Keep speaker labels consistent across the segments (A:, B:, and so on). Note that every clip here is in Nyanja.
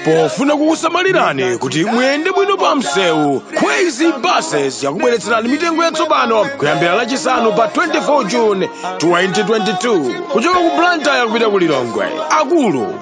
A: pofuna kukusamalirani kuti muyende bwino pa msewu crazy buses yakubweretserani mitengo yatsopano kuyambira lachisanu pa 24 june 2022 kuchoka ku blantyre kupita ku lilongwe akulu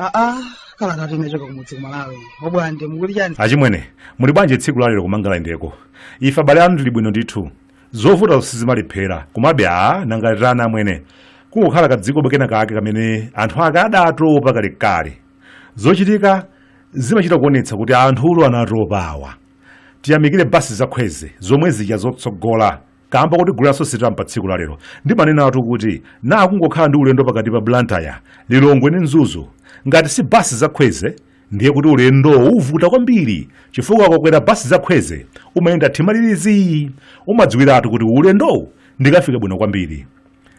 B: aa kala tati inachoka kumudzi kumalawi obwande mukuti chani achimwene
C: muli bwanji tsiku lalero kumangala indeko ife abale anu ndili bwino ndithu zovuta sizimalephera komabe aa nanga titani amwene kungokhala kadziko kenakake kamene anthu ake adatopa kalekale zochitika zimachita kuonetsa kuti anthutu anatopa awa tiyamikire basi zakhweze zomwe zija zotsogola kamba kuti gulu la sositam pa tsiku lalero ndimanenatu kuti na akungokhala ndi ulendo pakati pa blantyre lilongwe ndi mzuzu ngati si basi zakhweze ndiye kuti ulendowo uvuta kwambiri chifukwa ukakwera basi zakhweze umayenda mtima uli zii umadziwiratu kuti ulendowu ndikafika bwino kwambiri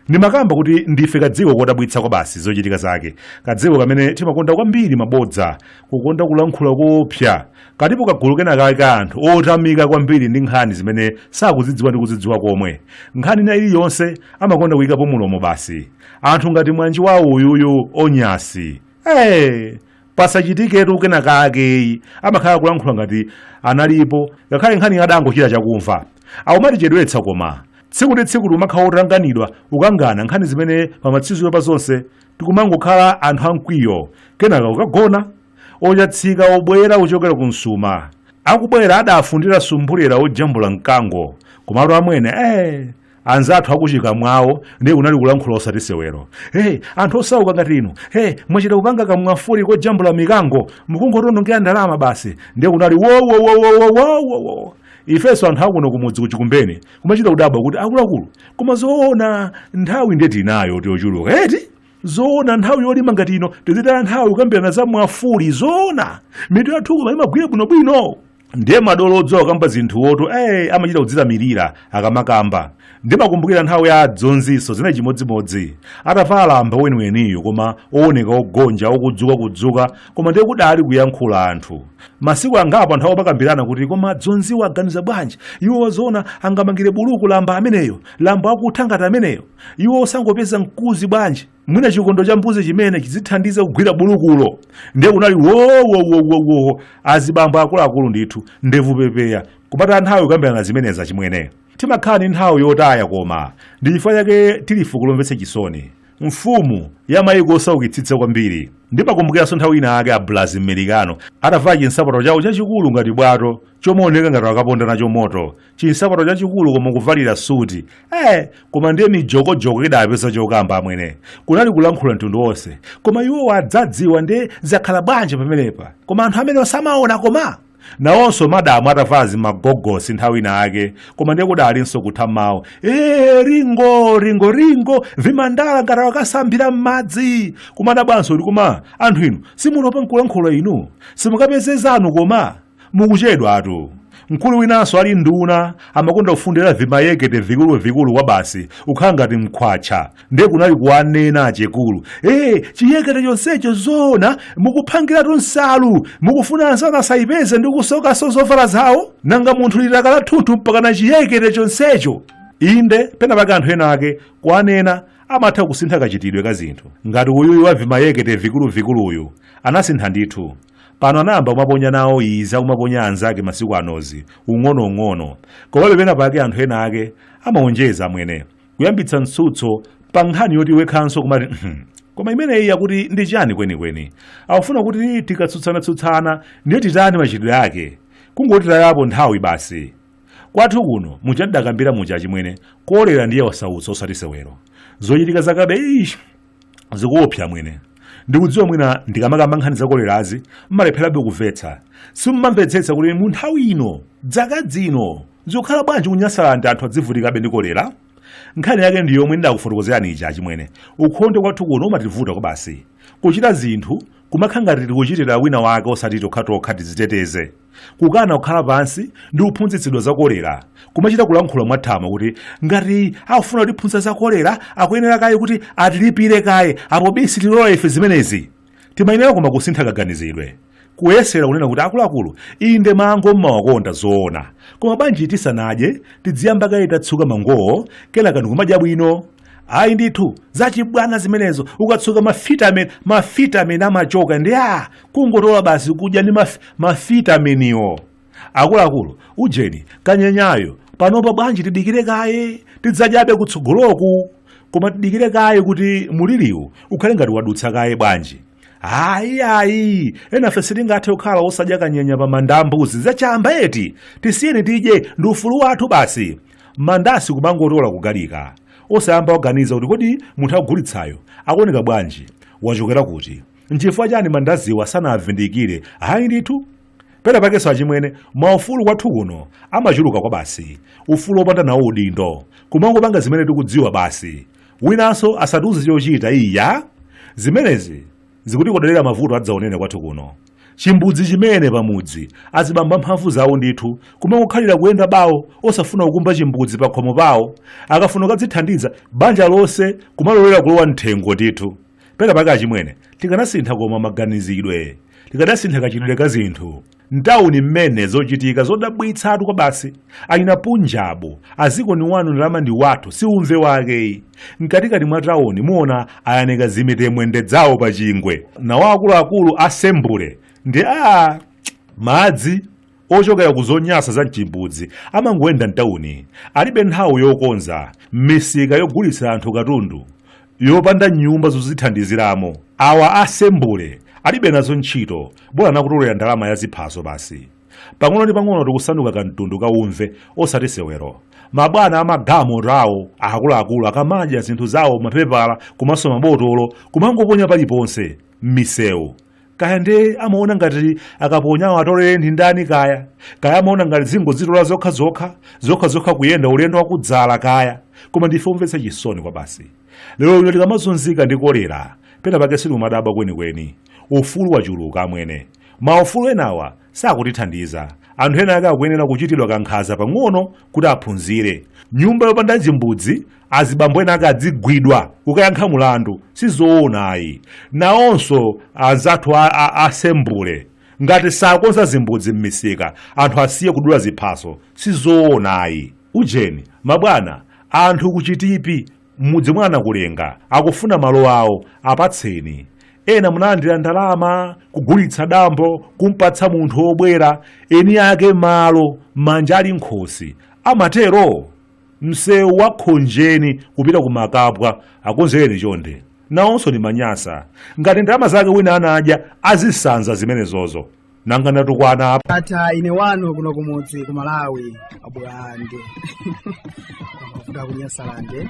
C: Ndimakamba kuti ndife kadziko kodabwitsa kwabasi zochitika zake, kadziko kamene timakonda kwambiri mabodza, kukonda kulankhula koopsa, tili ndi kagulu kenakake ka anthu otanganidwa kwambiri ndi nkhani zimene sakuzidziwa ndi kuzidziwa komwe. Nkhani ina iliyonse amakonda kuyikapo mlomo basi. Anthu ngati mnzanga wawo uyuyu Onyasi. Eee! pasachitiketu kenakake amakhala kulankhula ngati analipo ngakhale nkhani adangochita chakumva akumatichedwetsa koma tsiku ndi tsiku tikumakhala wotanganidwa kukangana nkhani zimene pamatsiriziro pa zonse tikumangokhala anthu amkwiyo kenaka kukagona ochatsika obwera kuchokera ku msuma akubwera adafundira sumbulera ojambula mkango komatu amwene eh anzathu akuchikamwawo ndiye kunali kulankhula osati sewero hey, anthu osauka ngati inu hey, mwachita kupanga kamwafuli kojambula mikango mukungotionongera ndalama basi ndiye kunali wowowowowowowo ifenso anthu akuno kumudzi kuchikumbeni kumachita kudabwa kuti akuluakulu koma zoona nthawi ndiye tinayo tiochuluka eti zoona nthawi yolima ngati ino tizitaya nthawi kukambirana za mwafuli zoona mitu yathuko imagwira bwinobwino ndiye madolo odziwa kukamba zinthuwotu eh, amachita kudzilamulira akamakamba ndimakumbukira nthawi ya adzonzinso zinali chimodzimodzi atavala lamba weniweniyo koma owoneka ogonja okudzuka kudzuka koma ndiye kudali kuyankhula anthu masiku angapo anthu amakambirana kuti koma adzonziwo aganiza bwanji iwo zoona angamangire buluku lamba ameneyo lamba wakutha ngati ameneyo iwo osangopeza mkuzi bwanji mwina chikondo cha mbuzi chimene chizithandiza kugwira bulukulo ndiye kunali wowowowowo azibambo akuluakulu ndithu ndevu pepeya kupata nthawi kukambirana zimenezi achimwene timakhala ndi nthawi yotaya koma ndi chifukwa chake tili fuko lomvetsa chisoni mfumu ya mayiko osaukitsitsa kwambiri ndimakumbukiranso nthawi ina ake a blazi mmerikano atavala chinsapato chawo chachikulu ngati bwato chomaoneka ngati akaponda nacho moto chinsapato chachikulu koma kuvalira suti eh koma ndiye mijokojoko idapeza chokamba amwene kunali kulankhula mtundu wonse koma iwo adzadziwa ndiye zakhala bwanji pamenepa koma anthu amene osamaona koma nawonso madamu atavala zimagogosi nthawi ina ake koma ndiye kudalinso kutha mawu ee ringo ringo ringo vimandala ngati wakasambira m'madzi kumadabwanso kuti koma anthu inu simutopa nkulankhula inu simukapeze zanu koma Mukuchedwatu. Mkulu winanso ali nduna amakonda kufundira vimayekete vikuluvikulu kwabasi kukhala ngati mkhwatcha ndiye kunali kuwanena achekulu ee chiyekete chonsecho zoona mukuphangiratu nsalu mukufuna anzanu asayipeze ndi kusokanso zovala zawo nanga munthu litaka lathunthu mpakana chiyekete chonsecho inde pena pake anthu ena ake kuwanena amatha kusintha kachitidwe ka zinthu ngati uyuyu wa vimayekete vikuluvikuluyu anasintha ndithu pano anayamba kumaponya nawo izi akumaponya anzake masiku anozi ung'onoung'ono komabe pena pake anthu ena ake amaonjeza amwene kuyambitsa mtsutso pa nkhani yoti wekhanso kumati "Mhm, koma imeneyi akuti ndi chani kwenikweni akufuna kuti tikatsutsana-tsutsana ndiye titani machitidwe ake kungotitayapo nthawi basi kwathu kuno muja ndidakambira muja achimwene kolera ndiye wasautsa osati sewero zochitika zakabe ish zikuopsa amwene ndikudziwa mwina ndikamakamba nkhani za kolerazi mmalepherabe kumvetsa simumamvetsetsa kuti mu nthawi ino dzaka dzino zikukhala bwanji ku nyasalandi anthu adzivutikabe ndi kolera nkhani yake ndi yomwe ndidakufotokozerani ija achimwene ukhondo kwathu kuno umativuta kwa basi kuchita zinthu kumakhala ngati tikuchitira wina wake osati tokhatokha tiziteteze kukana kukhala pansi ndi kuphunzitsidwa za kolera kumachita kulankhula mwathamo kuti ngati akufuna kutiphunzitsa za kolera akuyenera kaye kuti atilipire kaye apo bi sitilola ife zimenezi timayenera koma kusintha kaganizidwe kuyesera kunena kuti akuluakulu inde mango mmawakonda zoona koma bwanji tisanadye tidziyamba kaye tatsuka mangowo kenaka ndikumadya bwino ayi ndithu zachibwana zimenezo ukatsuka mafitamin mafitamin amachoka ndiye kungotola basi kudya ndi maf, mafitaminiwo akuluakulu ujeni kanyenyayo panopa bwanji tidikire kaye tidzadyabe kutsogoloku koma tidikire kaye kuti muliriwu ukhale ngati wadutsa kaye bwanji ayi ayi enafe sitingathe kukhala osadya kanyenya pa manda a mbuzi zachamba eti tisiyeni tidye ndi ufulu wathu basi mandasi kumangotola kugalika osayamba waganiza kuti kodi munthu akugulitsayo akuoneka bwanji wachokera kuti nchifukwa chani mandaziwa sanavindikire ayi ndithu pena pakenso achimwene maufulu kwathu kuno amachuluka kwabasi ufulu wopanda nawo udindo kumangopanga zimene tikudziwa basi winanso asatiuze chochita iya zimenezi Zikutikodolera mavuto adzaonene kwathu kuno. Chimbudzi chimene pamudzi azibambo amphamvu zawo ndithu kumangokhalira kuyenda bawo osafuna kukumba chimbudzi pakhomo pawo. Akafuna kukadzithandiza banja lonse kumalolera kulowa m'thengo ndithu. Pena pake achimwene tikanasinthako maganizidwe. Tikanasintha kachitidwe ka zinthu. Ntauni mmene zochitika zodabwitsatu kwabasi achina punjabu a dziko ndi wanu ndalama ndi wathu si umve wake ayi mkatikati mwa tauni muona ayanika zimitemwende zawo pa chingwe nawo akuluakulu asembule ndi awa madzi ochokera ku zonyasa za mchimbudzi amangoyenda mtauni alibe nthawi yokonza misika yogulitsira anthu katundu yopanda nyumba zozithandiziramo awa asembule alibe nazo ntchito bola nakutolera ndalama ya ziphaso basi pang'ono ndi pang'ono tikusanduka kamtundu kaumve osati sewero mabwana amagalimotowo akuluakulu akamadya zinthu zawo mapepala komanso mabotolo kumangoponya paliponse m'misewu kaya nde amaona ngati akaponyawo atolere ndi ndani kaya kaya amaona ngati zingodzitola zokha zokha zokha zokha kuyenda ulendo wakudzala kaya koma ndife omvetsa chisoni kwabasi lero lino tikamazunzika ndi kolera pena pake sitimadabwa kwenikweni ufulu wachuluka amwene maufulu enawa sakutithandiza anthu ena ake akuyenera kuchitidwa kankhaza pang'ono kuti aphunzire nyumba yopanda chimbudzi Azibambo ena ake adzigwidwa kukayankha mulandu sizoona ayi. Nawonso anzathu a asembule ngati sakonza zimbudzi mmisika anthu asiye kudula ziphaso sizoona ayi. Ujeni mabwana anthu ku Chitipi mmudzi mwa Nakulenga akufuna malo awo apatseni. Ena munalandira ndalama kugulitsa dambo kumpatsa munthu obwera eni ake malo manja ali nkhosi amatero? msewu wa khonjeni kupita ku makapwa akonzereni chonde nawonso ndi manyasa ngati ndalama zake wina anadya azisanza zimenezozo nanga ndatukwana apa ndatha ine wanu
B: kuno kumudzi ku malawi abulande kuda kunyasalande